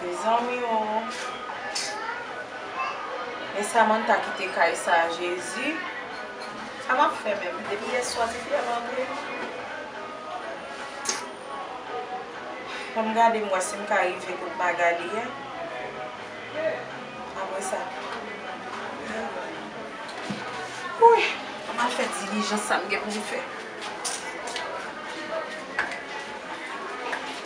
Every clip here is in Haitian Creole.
Mezanmi oo Men Samantha kite kay sa jezi Sa map fè menm depi yèswa ti fi a mande Fòm gadem wè sim ka rive kot Magalie a apresa Wouyy Anm al fè dilijans sam gen poum fè.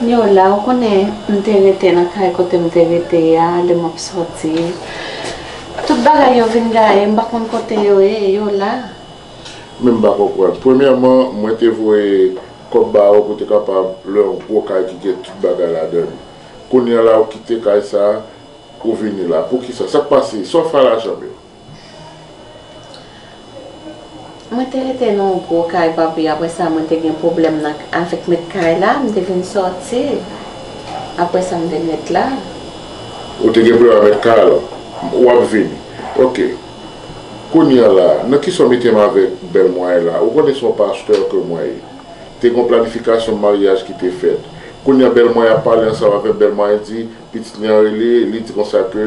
Yo la, ou konnen m te rete nan kay kote m te rete a lè m ap sòti. Tout bagay yo vin gaye, m pa konn kote yo ye, yo la. Men m pa konprann. Premyèman, mwen te voye kòb ba ou pou te kapab lwe yon gwo kay ki gen tout bagay ladan l. Kounye a la ou kite kay sa a, ou vini la. Poukisa? Sa k pase? Sa w fè a lajan m yo? Mwen te rete nan yon gwo kay papi apre sa mwen te gen pwoblèm nan avèk mèt kay la m te vin sòti apre sa m te met la. Ou te gen pwoblèm ak mèt kay la w ap vini ok kounye an la nan kisa w mete m avèk bèl mwen an la ou konnen se yon pastè ke mwen ye te gen yon planifikasyon maryaj ki te fèt kounye an bèl mwen an ap pale ansanm avè m bèl mwen an di pitit li an rele li di konsa ke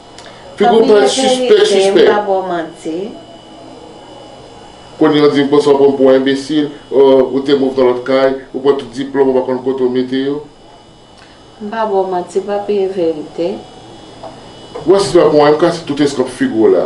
Figo pran sispèk sispèk. Kounye a w di bon sa w pran m pou yon enbesil oh ou te move nan lòt kay ou pran tout diplòm ou pa konn kote w mete yo. M pa ba w manti papi e verite. Wè si se pa pou anyen m kase tout eskanp figo w la.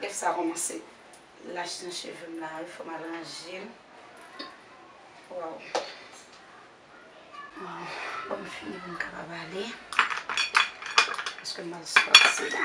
Bèf sa kòmanse lach nan cheve m la wi fòm al ranje l waw waw fòk m fini pou m kapab ale paske m al sou pati la.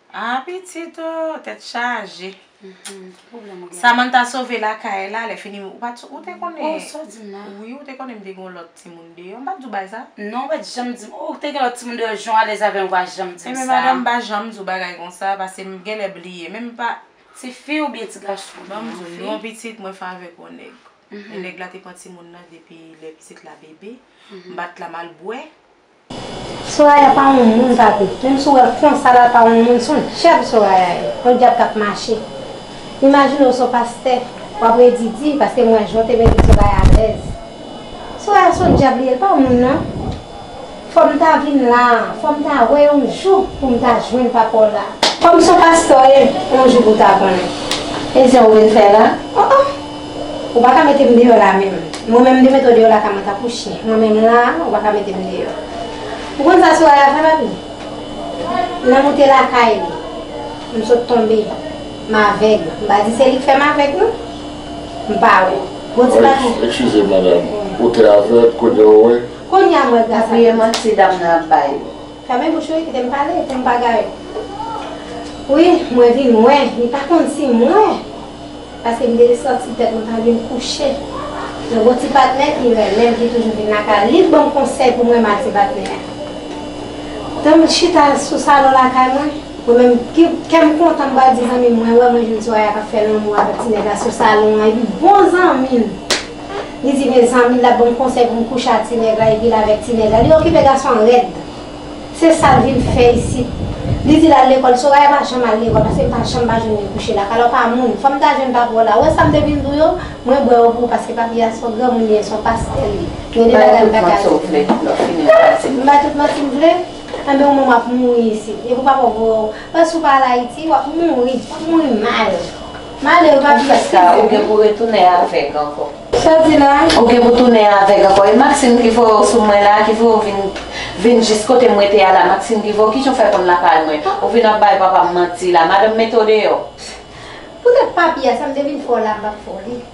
Ah pitit oh tèt chaje. Samantha sove lakay la lèfini ou pat ou te konnen wi ou te konnen m te gen yon lòt timoun deyò m pat di w bagay sa non ou pat janm di m ou te gen lòt timoun deyò jan w alèz avè m ou pa janm di m sa enben madanm m pa janm di w bagay konsa pase m genlè bliye menm m pa tifi oubyen ti gason ban m di w non pitit mwen fè avèk yon nèg e nèg la te pran timoun nan depi lè pitit la bebe m bat la m al bwè Soraya pa yon moun papi menm si w wè l konsa la l pa yon moun son dyab Soraya ye yon dyab kap mache imajine w son pastè wap redi di paske m wè jan w te mete Soraya alèz Soraya son dyab li ye l pa moun nan fò m ta vin la fò m ta wè yon jou pou m ta jwenn papa w la. Kòm son pastè w ye yon jou pou w ta konnen e jan w vin fè la oh oh. Ou pa ka mete m deyò la a menm. Mwen menm m te mete w deyò lakay mwen tankou chyen. Mwen menm la a, ou pa ka mete m deyò. Ou konn sa Soraya fè, papi? Lè m oute lakay li, m sot tonbe. M avèg. M pa di se li k fè m avèg non. M pa wè. Bon ti bagay. Ekskize madam. Ou te avèg, kounye a ou wè? Kounye a m wè gras ak tout sa. Pa bliye manti dam nan ap bay yo. Fèmen bouch ou kite m pale kèm pa gaye wi mwen vin wè li pa konn si m wè paske m dede santi tèt mwen pa byen kouche yon bon ti patnè ki renmen m ki toujou vin lakay li k banm konsèy pou mwen mal ti patnè a tanm chita sou salon lakay mwen mwen menm kèm kontan m pral di zanmi m mwen wè mwen jwenn Soraya k ap fè lanmou avèk ti nèg la sou salon an epi bon zanmi m Li di mezanmi lap banm konsèy pou m kouche a ti nèg la epi l avèk ti nèg la li okipe gason an rèd se sal vin fè isit li di lal lekòl Soraya pa janm al lekòl paske m pa janm pa jwenn li kouche la kalò pa moun fòm ta jwenn pa pou la wè sam te vin di w yo mwen bwè yo pou ou paske papi a son granmoun li ye son pastè li gen de bagay m paka di w m bay tout manti m vle anben ou menm wap mouri isit epi w papa w voye w paske si w pa al ayiti wap mouri wap mouri mal. Male ou pa di sa. Sa ou gen pou retounen avèg ankò. Sa w di la? Ou gen pou tounen avèg ankò. E Maxime ki voye w sou mwen la, ki voye w vin vin jis kote m rete a la, Maxime ki voye w, ki jan w fè konn lakay mwen? Ou vin ap bay papa m manti la. Madanm mete w deyò. Poutèt papi a sa m te vin fè w la m p ap fè w li.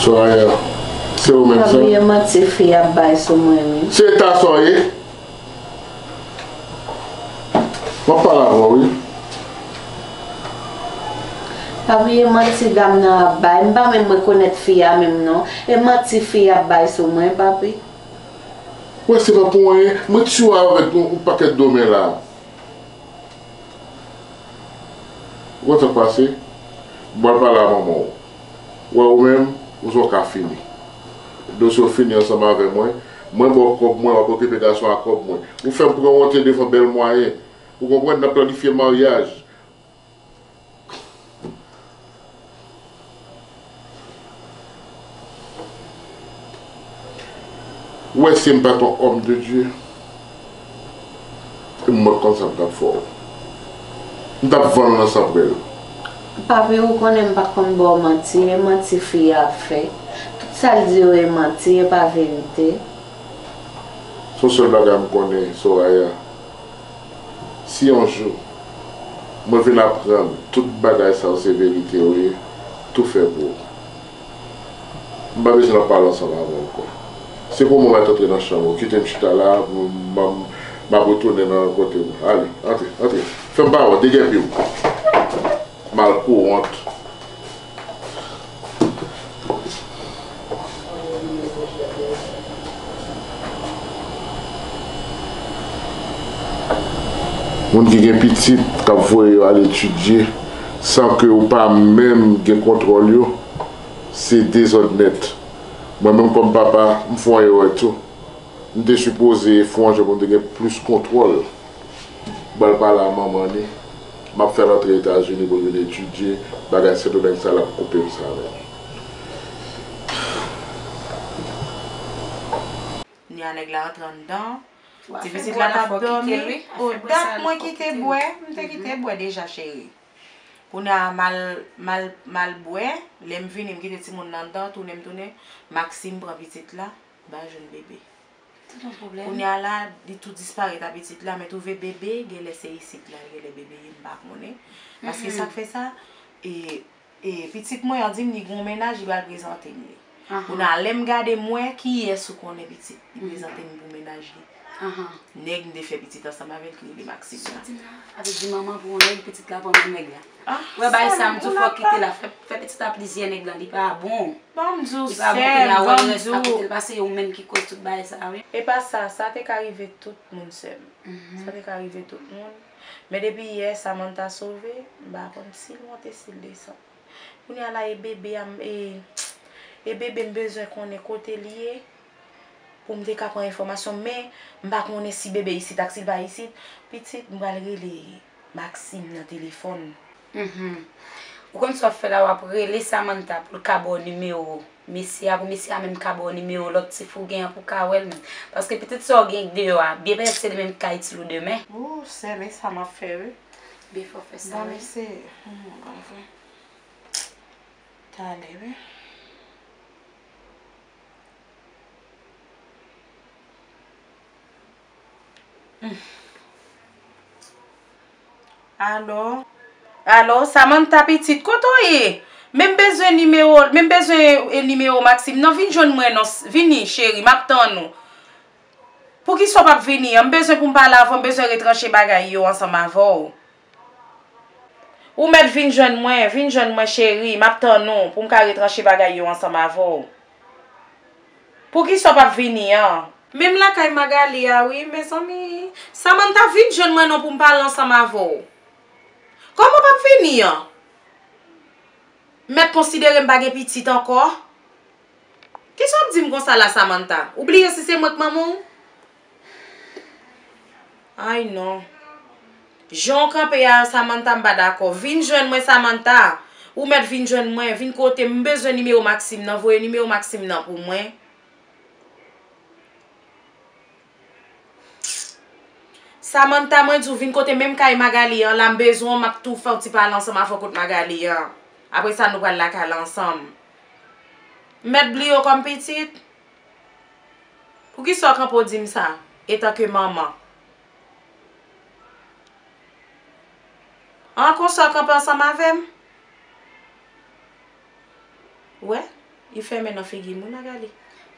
Soraya se ou menm sa. Pa bliye manti fi ap bay sou mwen wi. Se eta sa w ye? Map pale avè w wi. Pa bliye manti dam nan ap bay. M pa menm rekonèt fi a menm non. E manti fi ap bay sou mwen papi. Wè se pa pou anyen. Mwen t sou avèk yon pakèt domè la. Ou konn sak pase? Bon al pale a manman w. Wè ou menm, ou son ka fini. Dosye w fini ansanm avè mwen. Mwen ba w kòb mwen, wap okipe gason a kòb mwen. Ou fè m pran wonte devan bèl mwayen. Ou konprann, n ap planifye maryaj. Ou wè sim pat yon homme de Dieu m mòt konsa m tap fè w m tap vann w nan sanprèl. Papi ou konnen m pa konn baw manti e manti fi a ap fè tout sal di yo e manti e pa verite. Son sèl bagay m konnen Soraya. Si yon jou Mwen vin aprann tout bagay sa yo se verite yo ye tou fè pou ou M pa bezwen ap pale ansanm avè w ankò Se pou mwen mèt antre nan chanm ou kite m chita la M ap retounen nan kote m Ale antre antre fè m pa wè w degèpi w Mal pou wont. Moun ki gen pitit k ap voye yo al etidye san ke ou pa menm gen kontwòl yo, se dezòd nèt. Mwen menm kòm papa, m fon erè tou. M te sipoze fon jan pou m te gen plis kontwòl, ba l pale a manman li. Map fèl antre etazini poul vin etidye bagay sèto nèg sa lap koupem sa menm. Knya nèg la antre anndan. Ti pitit la tap domi oh dat mwen kite bwè m te kite bwè deja cheri kounya mal mal bwè lèm vini m kite timoun nan anndan tounen m tounen Maxime pran pitit la bal jwenn bébé. Kounya la li tou disparèt a pitit la men twouve bebe genlè se isit la genlè bebe ye m pa konnen paske sak fè sa e pitit mwen an di m li gon mennaj li pral prezante m li kounya lè m gade m wè kiyès ou konnen pitit li prezante m pou mennaj li nèg m te fè pitit ansanm avèk li li maksib la. Wè bay sa mnjou fòk kite la fè pitit a plizyè nèg lan li pa bon li pa bon pou la wè rès la kotel pase yo menm ki koz tout bagay sa wi. Epa sa, sa te ka rive tout moun sèm, sa te ka rive tout moun, men depi yè Samantha sove, m pa konn sil monte sil desann, kounya la e bebe a m e bebe m bezwen konnen kote li ye pou m te ka pran enfòmasyon men m pa konnen si bebe isit ak sil pa isit, pitit m pral rele. Maxime nan telefòn. Mph, Ou konn sa w ap fè la w ap rele Samantha pou l ka ba w nimewo mesye a pou mesye a menm ka ba w nimewo lòt ti fi w gen an pou w ka wè l menm. Paske pitit sa w gen deyò a byen pètèt se li menm ki ka itil ou demen. Ooh sè men sa m ap fè wi. Byen fè w fè sa wi. Bon men se mwen vre. Tande wi. Alo. Alo, Samantha pitit, kote w ye? Men m bezwen nimewo, men m bezwen nimewo Maxime nan, vin jwenn mwen non, vini cheri, m ap tann ou. Poukisa w p ap vini an? M bezwen pou m pale avè w, m bezwen retranche bagay yo ansanm avè w. Ou mèt vin jwenn mwen, vin jwenn mwen cheri, m ap tann ou pou m ka retranche bagay yo ansanm avè w. Poukisa w p ap vini an? Menm lakay Magalie a wi, mezanmi. Samantha, vin jwenn mwen non pou m pale ansanm avè w. Kòman w p ap vini an? Mèt konsidere m pa gen pitit ankò? Kisa w ap di m konsa la Samantha? Ou bliye si se mwen k manman w? Humm ay non Jan w kanpe a Samantha m pa dakò Vin jwenn mwen Samantha Ou mèt vin jwenn mwen Vin kote m M bezwen nimewo Maxime nan Voye nimewo Maxime nan pou mwen Samantha mwen di w vin kote menm kay Magalie an la m bezwen w m ap tou fè yon ti pale ansanm avè w kot Magalie an Apre sa nou pral lakay la ansanm M mèt bliye w kòm pitit Poukisa w kanpe w di m sa, etanke manman? An, konsa w kanpe ansanm avè m? Ou wè? Li fè men nan figi m wi, Magali.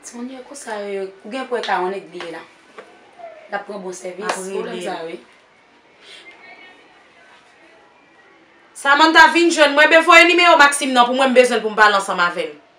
Timoun yo konsa yo ye. Ou gen pou wè Karan nèt li ye la. L ap pran bon sèvis. M ap rele l. Pwoblèm sa yo ye. Samanta, vin jwenn mwen. Ben, voye nimewo Maksim nan pou mwen. M bezwen l pou m pale ansanm avè l.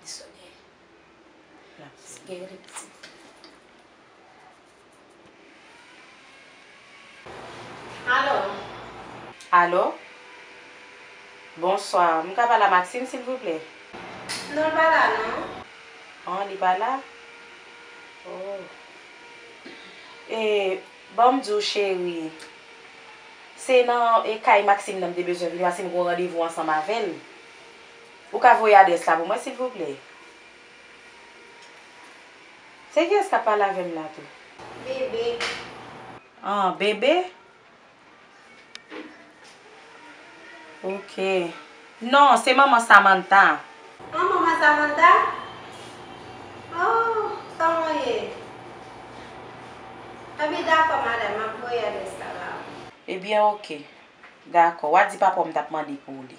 Missionnaire. Seigneur de miséricorde. Allo? Bonsoir, m ka pale a Maxime silvouplè? Non l pa la non. An li pa la? Oh. E, ban m di w cheri, se nan kay Maxime nan m te bezwen vini paske m gen yon randevou ansanm avè l. Ou ka voye adrès la pou mwen silvouplè? Se kiyès kap pale avèm la tou? Bebe. An, Bebe? Ok. Non, se manman Samantha. An, manman Samantha? Oh, kòman w ye? Enben dakò madam, map voye adrès la ba ou. Ebyen ok. Dakò. Wa di papa w m tap mande pou li.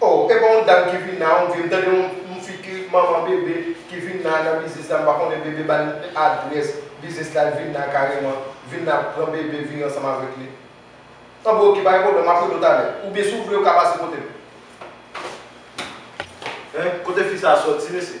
Oh epa yon dam ki vin la on dieu m tande yon m fi ki manman bebe ki vin la nan biznis la m pa konnen bebe bal adrès biznis la l vin la kareman vin la pran bebe vire ansanm avèk li an bon ok pa gen pwoblèm map rele w talè oubyen si w vle ou ka pase kote m. Hein kote fi sa soti mesye.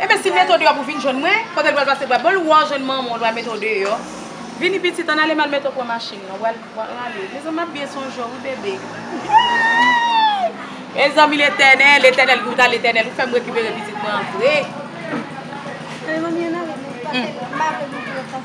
Enben si mete w deyò pou vin jwenn mwen, kote l pral pase bra bal wè w jwenn manman w li pral mete w deyò. Vini pitit ann ale m al mete w pran machin nan. W al ale. Mezanmi m ap byen sonje w wi bebe. Eeeii! Mezanmi Letènèl, Letènèl ki w t al Letènèl ou fè m rekipere pitit mwen an vre. Mezanmi ann ale men pase m pa vle mouri ansanm.